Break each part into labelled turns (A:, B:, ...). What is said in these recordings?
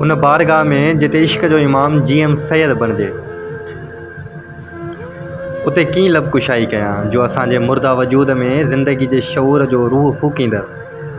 A: ان بارگاهه ۾ جتي عشق جو امام جي ايم سيد بڻجي اتي ڪيئن لب ڪشائي ڪيان جو اسان جي مرده وجود ۾ زندگي جي شعور جو روح ڦوڪيندڙ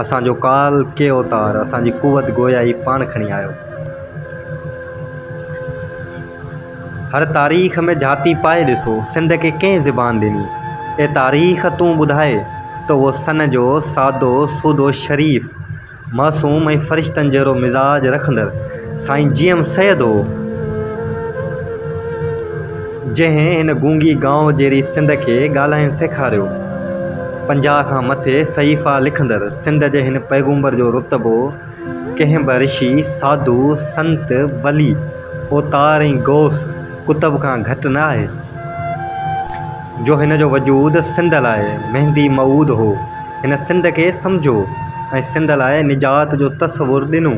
A: اسان جو ڪال ڪي اوتار اسان جي قوت گويائي پاڻ کڻي آيو. هر تاريخ ۾ جهاتي پائي ڏسو سنڌ کي ڪنهن زبان ڏني؟ اي تاريخ تون ٻڌاء ته اهو سن جو سادو سودو شريف معصوم ۽ فرشتن جهڙو مزاج رکندڙ سائين جي ايم سيد هو جنهن هن گونگي گائو جهڙي سنڌ کي ڳالهائڻ سيکاريو پنجاهه کان مٿي صحيفا لکندڙ سنڌ جي هن پيغمبر جو رتبو ڪنهن به رشي، ساڌو، سنت، ولي، اوتار ۽ غوث قطب کان گهٽ نه آهي، جو هن جو وجود سنڌ لاء مهندي موعود هو. هن سنڌ کي سمجهيو ۽ سنڌ لاء نجات جو تصور ڏنو.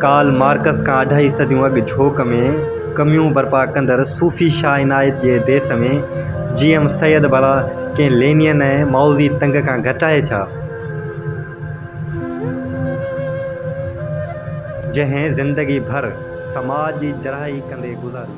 A: ڪارل مارڪس کان اڍائي صديون اڳ جهوڪ ۾ ڪميون برپا ڪندڙ صوفي شاهه عنايت جي ديس ۾ جي ايم سيد ڀلا ڪنهن لينين ۽ مائوزي تنگ کان گهٽ آهي ڇا؟ جنهن زندگي ڀر سماج جي جراحي ڪندي گذاري.